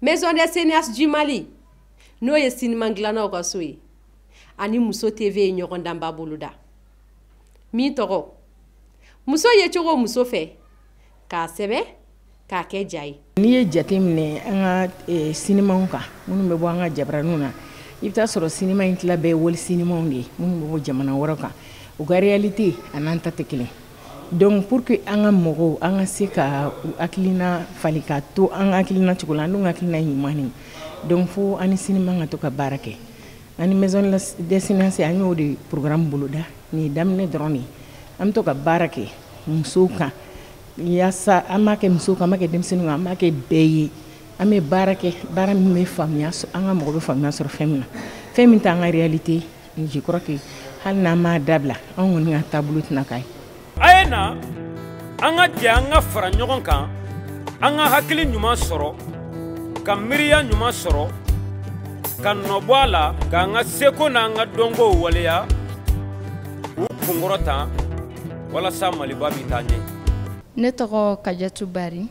Maison des cinéastes du Mali n'o ye sinima dilannaw ka so ye ani muso TV ye ɲɔgɔndanba boloda min tɔgɔ muso ye cogo muso fɛ k'a sɛbɛ k'a kɛ ja ye n'i ye jate minɛ an ka eh, sinimaw kan minnu bɛ bɔ an ka jabaraniw na i bɛ t'a sɔrɔ sinima in tila bɛɛ ye wali sinimaw de ye minnu bɛ bɔ jamana wɛrɛ kan u ka réalité a n'an ta tɛ kelen donc pour que an ka mɔgɔw an ka se ka u hakilina falen ka to an ka hakilina cogo la an dun ka hakilina ɲuman de donc fo an ni sinima ka to ka baara kɛ An ni maison des cinéastes an y'o de programme boloda nin ye daminɛ dɔrɔn de ye an bɛ to ka baara kɛ musow kan yaasa an b'a kɛ musow kan an b'a kɛ denmisɛnninw kan an b'a kɛ bɛɛ ye an bɛ baara kɛ baara min bɛ faamuya an ka mɔgɔ bɛ faamuya sɔrɔ fɛn min na fɛn min t'an ka réalité ye je crois que hali n'an m'a dabila anw kɔni ka taabolo tɛna k'a ye a ye na an ka jɛ an ka fara ɲɔgɔn kan an ka hakili ɲuman sɔrɔ ka miiriya ɲuman sɔrɔ ka nɔbɔ a la k'an ka seko n'an ka dɔnkow waleya k'u kunkɔrɔta walasa maliba bɛ taa ɲɛ ne tɔgɔ kajatu bari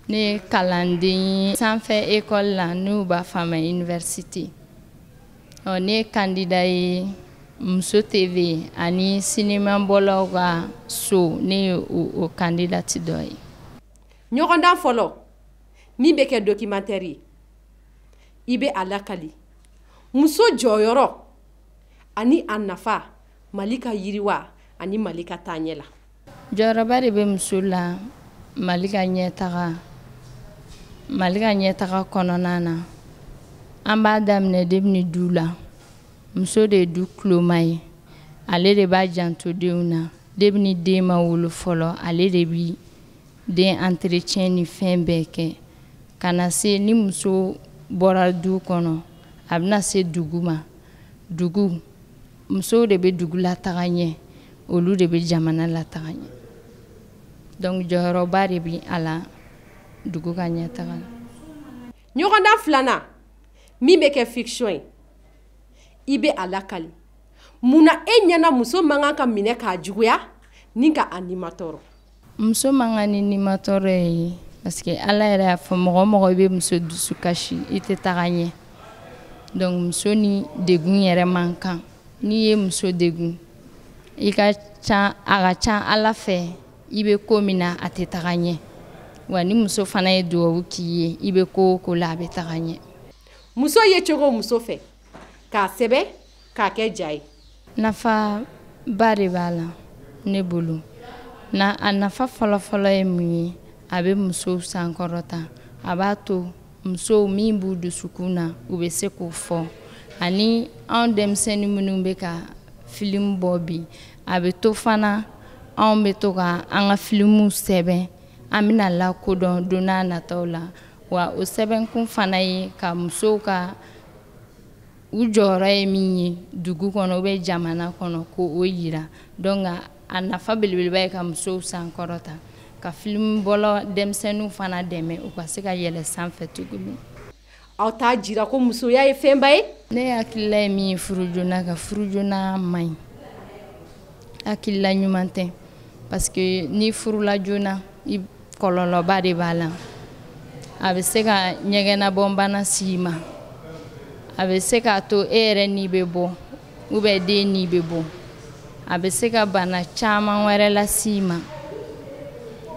ne ye kalanden ye sanfɛ ekɔli la n'u b'a fɔ a ma université ɔ ne ye kandida ye muso tv ani sinimabɔlaw ka so ne ye o kandidati dɔ ye ɲɔgɔndan fɔlɔ min bɛ kɛ documentaire ye i bɛ a lakali muso jɔyɔrɔ ani a nafa mali ka yiriwa ani mali ka taaɲɛ la jɔyɔrɔba de bɛ muso la mali ka mali ka ɲɛtaga kɔnɔna na an b'a daminɛ debini du la muso de ye du kuloma ye ale de b'a janto denw na debini den ma wolo fɔlɔ ale de bi den entretien ni fɛn bɛɛ kɛ ka na se ni muso bɔra du kɔnɔ a bɛna se dugu ma dugu musow de bɛ dugu lataga ɲɛ olu de bɛ jamana lataga ɲɛ donc jɔyɔrɔba de bɛ a la dugu ka ɲɛtaga la ɲɔgɔndan filanan min bɛ kɛ fiction ye i bɛ a lakali mun na e ɲɛna muso man kan ka minɛ k'a juguya ni ka a nimatɔɔrɔ muso man kan ni nimatɔɔrɔ ye parce que ala yɛrɛ y'a fɔ mɔgɔ o mɔgɔ i bɛ muso dusu kasi i tɛ taga ɲɛ donc muso ni degun yɛrɛ man kan n'i ye muso degun i a ka ca ala fɛ i bɛ ko min na a tɛ taga ɲɛ wa ni muso fana ye dugawu k'i ye i bɛ ko o ko la a bɛ taga ɲɛ muso ye cogo muso fɛ k'a sɛbɛn k'a kɛ ja ye nafaba de b'a la ne bolo a nafa fɔlɔfɔlɔ ye mun ye a bɛ musow sankɔrɔta a b'a to musow min b'u dusukun na u bɛ se k'o fɔ ani anw denmisɛnnin minnu bɛ ka filimu bɔ bi a bɛ to fana anw bɛ to ka an ka filimuw sɛbɛn an bɛna lakodɔn don n'a nataw la wa o sɛbɛnkun fana ye ka musow ka u jɔyɔrɔ ye min ye dugu kɔnɔ ou bien jamana kɔnɔ k'o yira donc a nafa belebeleba ye ka musow sankɔrɔta ka filimubɔla denmisɛnninw fana dɛmɛ u ka se ka yɛlɛ sanfɛ tuguni aw t'a jira ko musoya ye fɛnba ye ne hakilila ye min ye furu joona kan furu joona man ɲi hakilila ɲuman tɛ parce que n'i furula joona kɔlɔlɔba de b'a la a bɛ se ka ɲɛgɛnɛbɔnbana s'i ma a bɛ se k'a to e yɛrɛ ni bɛ bɔ ou bien den ni bɛ bɔ a bɛ se ka bana caman wɛrɛ las'i ma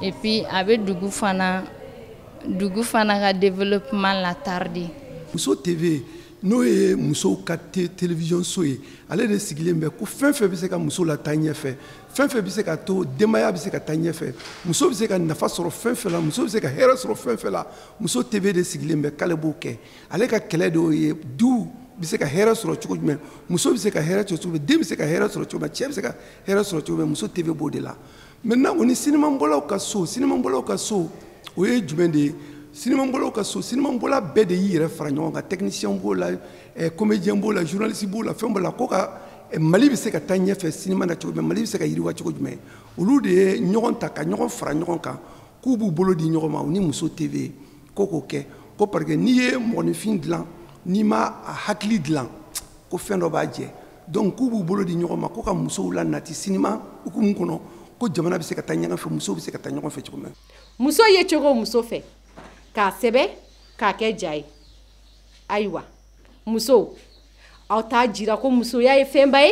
et puis a bɛ dugu fana dugu fana ka développement latarder muso tv n'o ye musow ka télévision so ye ale de sigilen bɛ ko fɛn fɛn bɛ se ka muso lataa ɲɛfɛ fɛn fɛn bɛ se ka to denbaya bɛ se ka taa ɲɛfɛ muso bɛ se ka nafa sɔrɔ fɛn fɛn la muso bɛ se ka hɛrɛ sɔrɔ fɛn fɛn la muso tv de sigilen bɛ k'ale b'o kɛ ale ka kɛlɛ de y'o ye du bɛ se ka hɛrɛ sɔrɔ cogo jumɛn muso bɛ se ka hɛrɛ sɔrɔ cogo jumɛn den bɛ se ka hɛrɛ sɔrɔ cogo jumɛn cɛ bɛ se ka hɛrɛ sɔrɔ cogo jumɛn muso tv b'o de la maintenant o ni sinimabɔlaw ka so sinimabɔlaw ka so o ye jumɛn de ye sinimabɔlaw ka so sinimabɔla bɛɛ de y'i yɛrɛ fara ɲɔgɔn kan technicien b'o la eh, comédien b'o la journaliste b'o la fɛn b'o la ko ka eh, mali bɛ se ka taa ɲɛfɛ sinima na cogo jumɛn mali bɛ se ka yiriwa cogo jumɛn olu de ye ɲɔgɔn ta ka ɲɔgɔn fara ɲɔgɔn kan k'u b'u bolo di ɲɔgɔn ma u ni muso tv ko k'o kɛ ko parce que n'i ye mɔgɔninfin dilan n'i ma a hakili dilan ko fɛn dɔ b'a jɛ donc k'u b'u bolo di ɲɔgɔn ma ko ka musow la nati sinima hukumu kɔnɔ ko jamana bɛ se ka taa ɲɛfɛ musow bɛ se ka taa ɲɛfɛ cogo min na muso ye cogo muso fɛ k'a sɛbɛn k'a kɛ ja ye ayiwa musow aw t'a jira ko musoya ye fɛnba ye